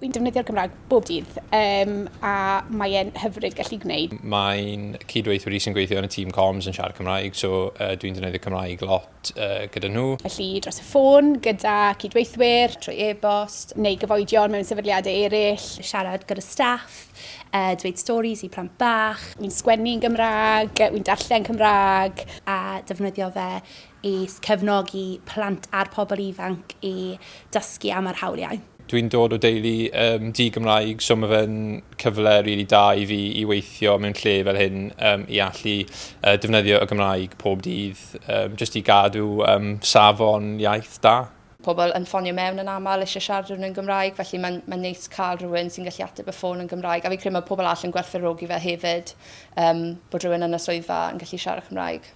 Fi'n defnyddio'r Gymraeg bob dydd um, a mae'n hyfryd gallu gwneud. Mae'n cydweithwyr i sy'n gweithio yn y tîm comms yn siarad Cymraeg, so uh, dwi'n defnyddio Cymraeg lot uh, gyda nhw. Felly dros y ffôn, gyda cydweithwyr, trwy e-bost, neu gyfoedion mewn sefydliadau eraill. Siarad gyda staff, uh, dweud storis i plant bach. Wi'n sgwennu yn Gymraeg, wi'n darllen Cymraeg a defnyddio fe i cefnogi plant a'r pobl ifanc i dysgu am yr hawliau. Dwi'n dod o deulu um, di-Gymraeg, so mae fe'n cyfle rili really da i fi i weithio mewn lle fel hyn um, i allu uh, defnyddio y Gymraeg pob dydd, um, jyst i gadw um, safon iaith da. Pobl yn ffonio mewn yn aml eisiau siarad rhywun yn Gymraeg, felly mae'n mae'n neis cael rhywun sy'n gallu ateb y ffôn yn Gymraeg, a fi'n credu mae pobl all yn gwerthfawrogi fe hefyd, um, bod rhywun yn y swyddfa yn gallu siarad Cymraeg.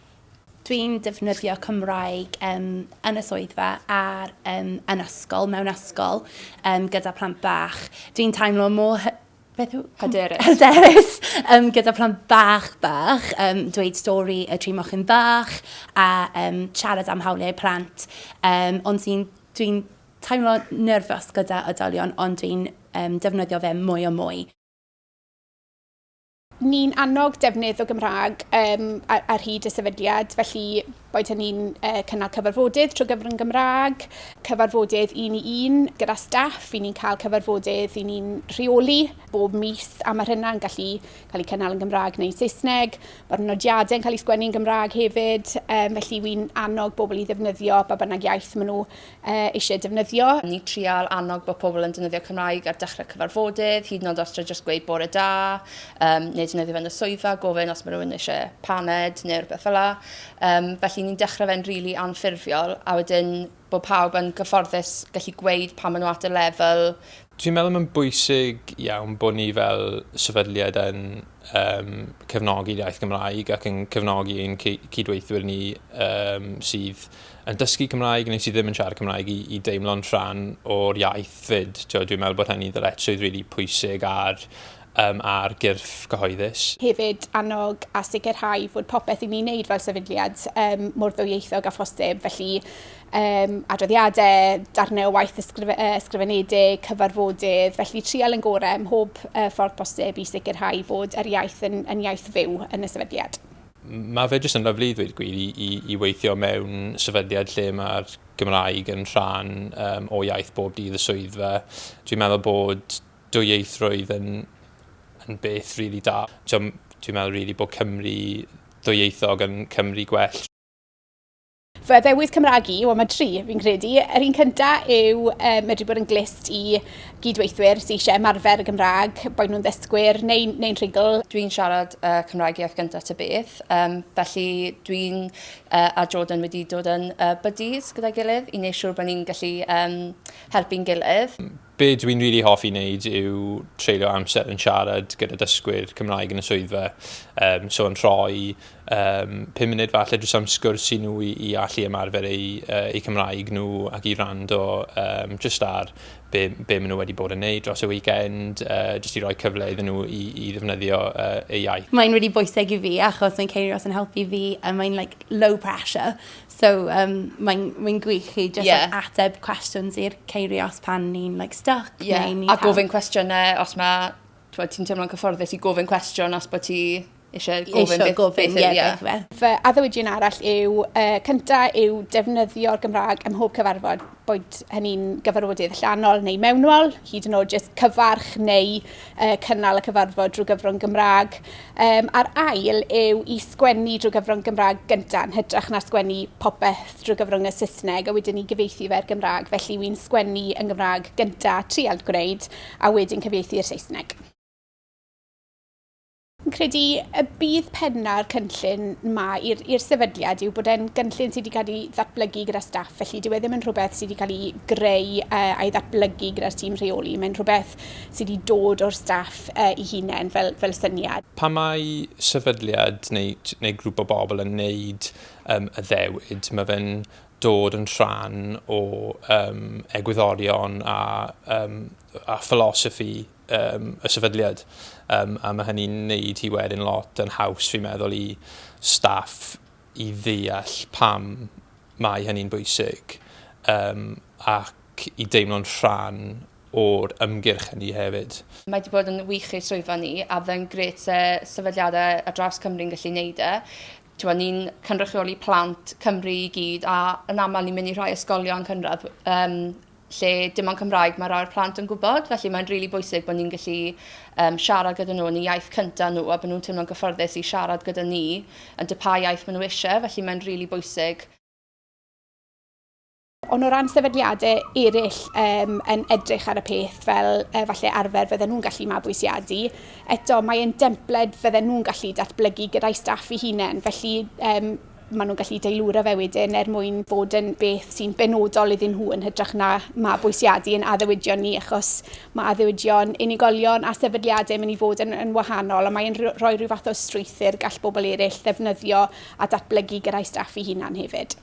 Dwi'n defnyddio Cymraeg um, yn y swyddfa ar um, yn ysgol, mewn ysgol, um, gyda plant bach. Dwi'n teimlo mor beth yw... Hyderus. Hyderus, um, gyda plant bach bach, um, dweud stori y tri mochyn bach a um, siarad am hawliau plant. Um, ond sy'n, dwi'n teimlo nerfus gyda oedolion, ond dwi'n um, defnyddio fe mwy o mwy. Ni'n annog defnydd o Gymraeg um, ar, ar hyd y sefydliad, felly Boed hynny'n cynnal cyfarfodydd trwy gyfrwng Gymraeg, cyfarfodydd un i un gyda staff, i ni'n cael cyfarfodydd i ni'n rheoli bob mis a mae hynna'n gallu cael ei cynnal yn Gymraeg neu Saesneg. Mae'r nodiadau'n cael ei sgwennu yn Gymraeg hefyd, um, felly wy'n annog bobl i ddefnyddio ba bynnag iaith maen nhw eisiau defnyddio. Ni'n trial annog bod pobl yn defnyddio Cymraeg ar dechrau cyfarfodydd, hyd yn oed os tra jyst gweud bore da, um, neu defnyddio fe'n y swyddfa, gofyn os mae rhywun eisiau paned neu rhywbeth fel la. Um, felly ni'n dechrau fe'n rili really anffurfiol, a wedyn bod pawb yn gyfforddus gallu gweud pa maen nhw at y lefel Dwi'n meddwl mae'n bwysig iawn bod ni fel sefydliad yn yn cefnogi'r iaith Gymraeg ac yn cefnogi ein cydweithwyr ni sydd yn dysgu Cymraeg neu sydd ddim yn siarad Cymraeg i, i deimlo'n rhan o'r iaith fyd. Tio, dwi'n meddwl bod hynny'n ddyletswydd rili really pwysig ar, um, ar gyrff cyhoeddus. Hefyd annog a sicrhau fod popeth i ni'n neud fel sefydliad um, mor ddwyieithog a phosib, felly um, adroddiadau, darnau o waith ysgrif uh, ysgrifenedig, cyfarfodydd, felly trial yn gorau ym mhob uh, ffordd posib i sicrhau fod yr iaith yn, yn iaith fyw yn y sefydliad. Mae fe jyst yn lyflu i ddweud gwir i, i, i weithio mewn sefydliad lle mae'r Gymraeg yn rhan um, o iaith bob dydd y swyddfa. Dwi'n meddwl bod dwyieithrwydd yn, yn beth rili really da. Dwi'n meddwl rili really bod Cymru ddwyieithog yn Cymru gwell. Fy ddewis Cymraeg i, wel mae tri fi'n credu. Yr un cynta yw uh, medru bod yn glist i gydweithwyr sy'n eisiau ymarfer y Gymraeg, boed nhw'n ddysgwyr neu'n neu rhugl. Dwi'n siarad uh, Cymraeg iaith gyntaf ty beth, um, felly dwi'n uh, a Jordan wedi dod yn uh, buddies gyda'i gilydd i wneud siŵr bod ni'n gallu um, helpu'n gilydd. Be dw i'n rili hoffi wneud yw treulio amser yn siarad gyda dysgwyr Cymraeg yn y swyddfa. Um, so yn rhoi um, 5 munud falle drwy am sgwrs i nhw i, i allu ymarfer eu, uh, eu Cymraeg nhw ac i rando um, just ar be, be maen nhw wedi bod yn neud dros y weekend, uh, just i roi cyfle iddyn nhw i, i ddefnyddio uh, eu iaith. Mae'n really bwysig i fi achos mae'n ceir os yn helpu fi a mae'n like low pressure. So um, mae'n mae gwych chi just yeah. like, ateb cwestiwn i'r ceiriau os pan ni'n like, stuck. Yeah. Neu ni a gofyn cwestiynau os mae ti'n teimlo'n cyfforddus i gofyn cwestiwn os bod ti eisiau gofyn beth, gofyn, beth, yeah, beth, beth. Fy addewidion arall yw, uh, cyntaf yw defnyddio'r Gymraeg ym mhob cyfarfod. boed hynny'n gyfarfodydd allanol neu mewnol, hyd yn oed jyst cyfarch neu uh, cynnal y cyfarfod drwy gyfrwng Gymraeg. Um, a'r ail yw i sgwennu drwy gyfrwng Gymraeg gyntaf yn hytrach na sgwennu popeth drwy gyfrwng y Saesneg a wedyn ni gyfeithi fe'r Gymraeg. Felly wy'n sgwennu yn Gymraeg gyntaf, trial gwneud, a wedyn cyfeithi i'r Saesneg. Fi'n credu y bydd penna'r cynllun ma i'r sefydliad yw bod e'n gynllun sydd wedi cael ei ddatblygu gyda staff, felly dyw e ddim yn rhywbeth sydd wedi cael ei greu uh, a'i ddatblygu gyda'r tîm rheoli. Mae'n rhywbeth sydd wedi dod o'r staff uh, i hunain fel, fel syniad. Pa mae sefydliad neu, neu grŵp o bobl yn neud um, y ddewyd, mae fe'n dod yn rhan o um, egwyddorion a, um, a philosophy um, y sefydliad. Um, a mae hynny'n neud hi wedyn lot yn haws, fi'n meddwl, i staff i ddeall pam mae hynny'n bwysig um, ac i deimlo'n rhan o'r ymgyrch hynny hefyd. Mae wedi bod yn wych i'r swyddfa ni a fe'n gret se sefydliadau ar draws Cymru'n gallu neud e. Tewa, ni'n cynrychioli plant Cymru i gyd a yn aml ni'n mynd i rhai ysgolion cynradd um, lle dim ond Cymraeg mae rhai'r plant yn gwybod, felly mae'n rili bwysig bod ni'n gallu um, siarad gyda nhw yn y iaith cyntaf nhw a bod nhw'n teimlo'n gyffyrddus i siarad gyda ni yn dy pa iaith maen nhw eisiau, felly mae'n rili really bwysig Ond o ran sefydliadau eraill um, yn edrych ar y peth fel uh, falle arfer fydden nhw'n gallu mabwysiadu, eto mae'n dempled fydden nhw'n gallu datblygu gyda'i staff i hunain. Felly um, maen nhw'n gallu deilwra fe wedyn er mwyn bod yn beth sy'n benodol iddyn nhw yn hytrach na mabwysiadu yn addewidion ni achos mae addewidion unigolion a sefydliadau yn mynd i fod yn, yn wahanol a mae'n rhoi rhyw fath o strwythyr gall bobl eraill ddefnyddio a datblygu gyrra'i staff i hunan hefyd.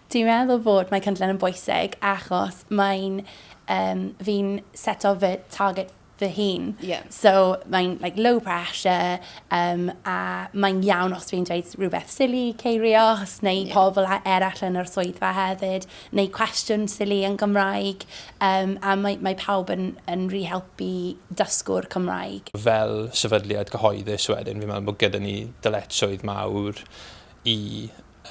Dwi'n meddwl fod mae cynllun yn bwysig achos mae'n um, fi'n seto fy target fy hun. Yeah. So mae'n like, low pressure um, a mae'n iawn os dwi'n dweud rhywbeth silly, ceirios, neu yeah. pobl eraill yn yr swyddfa hefyd, neu cwestiwn silly yn Gymraeg, um, a mae, mae pawb yn, yn rhi helpu dysgwr Cymraeg. Fel sefydliad cyhoeddus wedyn, fi'n meddwl bod gyda ni dyletswydd mawr i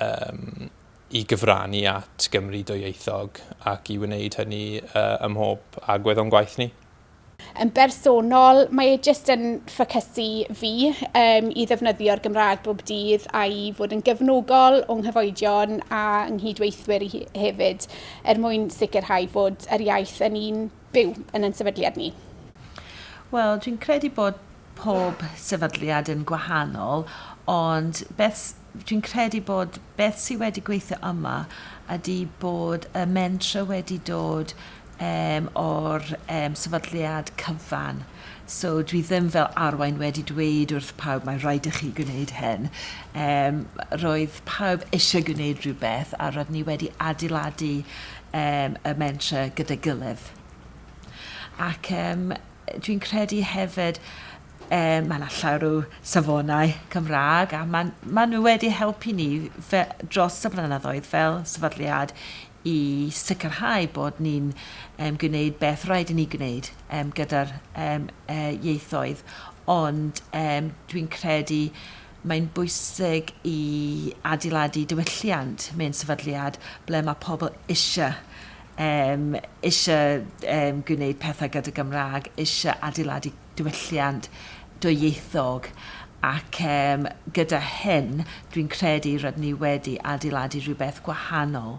um, i gyfrannu at Gymru dwyieithog ac i wneud hynny uh, ymhob agwedd o'n gwaith ni. Yn bersonol, mae e jyst yn ffocysu fi um, i ddefnyddio'r Gymraeg bob dydd a'i fod yn gefnogol o'n nghyfoedion a nghydweithwyr i hefyd, er mwyn sicrhau fod yr iaith yn un byw yn yn sefydliad ni. Wel, dwi'n credu bod pob sefydliad yn gwahanol, ond beth dwi'n credu bod beth sydd wedi gweithio yma ydy bod y mentra wedi dod yym o'r yym sefydliad cyfan. So dwi ddim fel arwain wedi dweud wrth pawb mae rhaid i chi gwneud hyn. Yym roedd pawb eisiau gwneud rhywbeth a roedd ni wedi adeiladu yym y mentre gyda'i gilydd. Ac yym dwi'n credu hefyd yy mae 'na llawer o safonau Cymraeg a ma'n ma' nhw wedi helpu ni fe- dros y blynyddoedd fel sefydliad i sicrhau bod ni'n gwneud beth rhaid i ni gwneud gyda'r ieithoedd, ond dwi'n credu mae'n bwysig i adeiladu diwylliant mewn sefydliad ble mae pobl eisiau eisiau gwneud pethau gyda Gymraeg, eisiau adeiladu diwylliant dwyieithog ac yym gyda hyn dwi'n credu rydyn ni wedi adeiladu rhywbeth gwahanol.